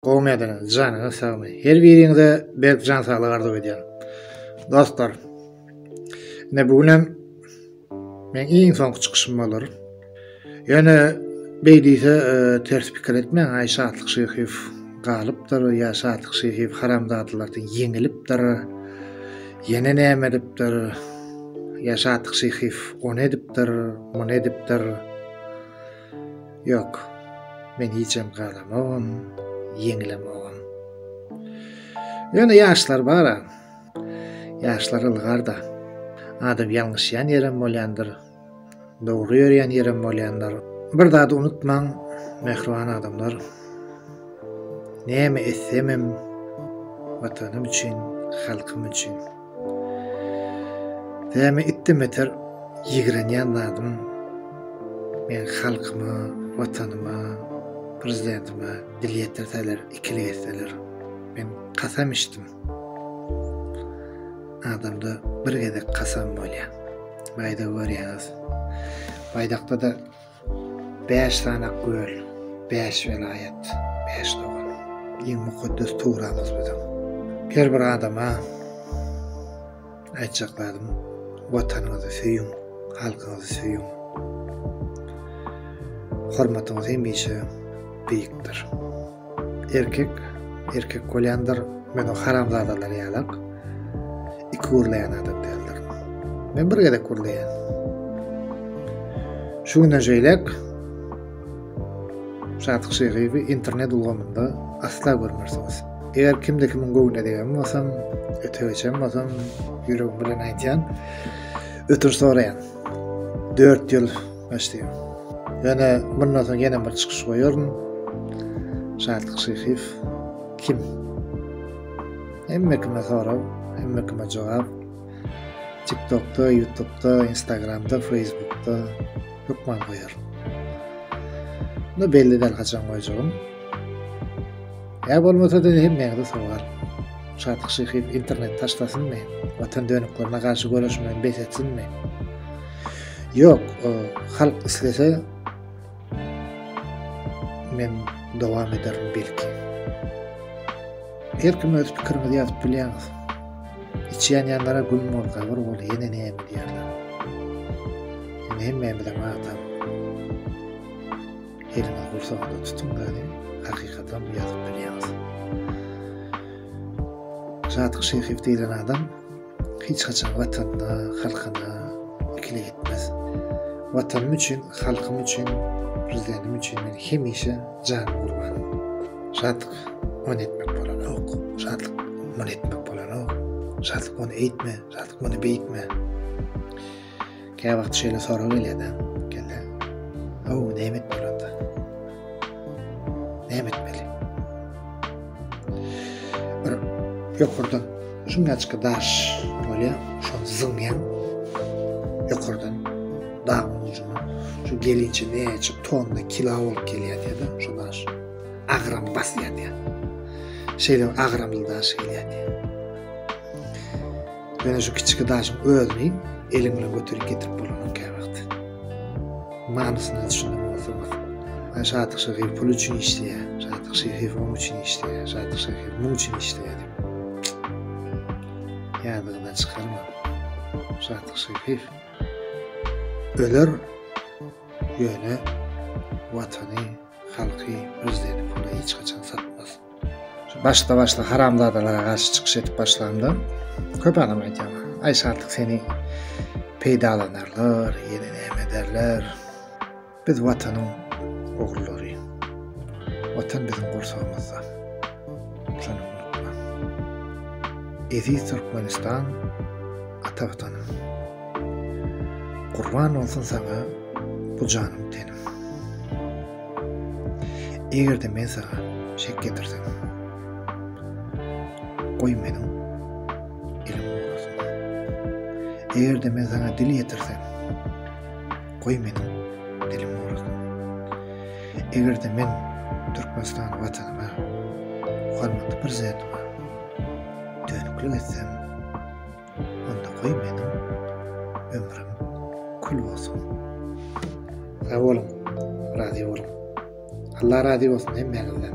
Gowy medene janyňyz sagmy her biriňize berk jan saglyk arzuw edýän dostlar ne bu günem men iň soňky çykyşym bolar ýöne beýdise e, ters pikir etmäň aý şatlyk şyhyw galypdyr ýa şatlyk şyhyw haramzadalardan ýeňilipdir ýene näme edipdir ýa şatlyk şyhyw on edipdir on edipdir Ýok, men hijem galamogam, ýeňlemogam. Ýöne ýaşlar bar-a. Ýaşlar ylgar-da. Adam ýalňyşýan ýerem bolýandyr. Dogry ýörýän ýerem bolýandyr. Bir zady unutmaň, mähriban adamlar. Näme etsemem, Watanym üçin, halkym üçin. Näme etdim beter ýigrenýän zadym men halkyma, watanyma, prezidentime dil ýetirseler, ikili geçseler. Men kasam içdim. Adamda bir gezek kasam bolýar. Baýda görýäňiz. Baýdakda-da Bäş sany göl, bäş welaýat, bäş dogan. Iň mukaddes Tugrymyz biziň. Her bir adama aýtjak zadym, Watanyňyzy söýüň, halkyňyzy söýüň. Hormatyňyz hemişe beýikdir. Erkek erkek bolýandyr. Men o haramzadalar ýalak. Iki gürleýän adam däldir. Men bir gezek gürleýän. Şu günden şeýlek Sadyk Şeýgiýewi internet ulgamynda asla görmersiňiz. Eger kimde kimiň göwnüne degen bolsam, öte geçen bolsam, ýüregim bilen aýtýan, ötür soraýan. 4 ýyl Başlaýar. Ýöne bundan soň ýene bir çykyş goýaryn. Şatlyk Şyhyýew kim? Hemme kime sorag, hemme kime jogap. TikTokda, YouTubda, Instagramda, Facebookda hökman goýar. Ne belli däl haçan goýjagym. Ýa bolmasa-da hemmäňize sowal. Şatlyk Şyhyýew internet taşlasynmy? Watan dönüklerine garşy göreşmegi bes etsinmi? Yok, e, halk islese men devam ederim belki. Her kim öz pikirimizi yazıp bilýäňiz. İçýän ýanlara gül bol, gabyr bol, ýene ne diýýärler. Ýöne hemmämiz hem adam. Eliňiz gursagynda tutuň da, hakykatdan ýazyp bilýäňiz. Sadyk Şeýhow diýlen adam Hiç haçan Watanyna, halkyna ikili gitmez. Watanym üçin, halkym üçin, Prezidentim üçin men hemişe janymy gurban Şatlyk ony etmek bolanok, Şatlyk muny etmek bolanok, Şatlyk ony eýtme, Şatlyk muny beýtme. Kä wagt şeýle sorag gelýär-de, geldi. Aw, näme etmeli onda? Näme etmeli? Bir ýokardan şuňaçka daş bolýar, şol zyňýan ýokardan dağ ucuna şu gelinçe näçe tonna kilo bolup gelýär diýdi şu daş agram basýar diýdi şeýle agramly daş gelýär diýdi Ýöne şu kiçi daşyň özüni eliň bilen göterip getirip bolanyň käwagt. Manysyna düşünen bolsaňyz. Ay Şatyk Şehiýew pul üçin işleýär. Şatyk Şehiýew oň üçin işleýär. Şatyk Şehiýew muň üçin işleýär diýip. Ýadyňyzdan çykarmaň. Şatyk Şehiýew öler, ýöne watany, halky, prezidenti pula hiç haçan satmaz. Başda başda haramzadalara garşy çykyş edip başlamda köp adam aýdýar. Aý şatlyk seni peýdalanarlar, ýene näme ederler. Biz watanyň ogullary. Watan biziň gursagymyzda. Şony unutma. Eziz Türkmenistan ata watanym. Gurban bolsun saňa bu janym tenim. Eger-de men saňa şek getirsem, goý meniň elim ugrasyn. Eger-de men saňa dil ýetirsem, goý meniň dilim ugrasyn. Eger-de men Türkmenistan watanyma, hormatly Prezidentime dönüklik etsem, Onda goý meniň ömrüm kül bolsun. Sag boluň, razy boluň. Allah razy bolsun hemmäňizden.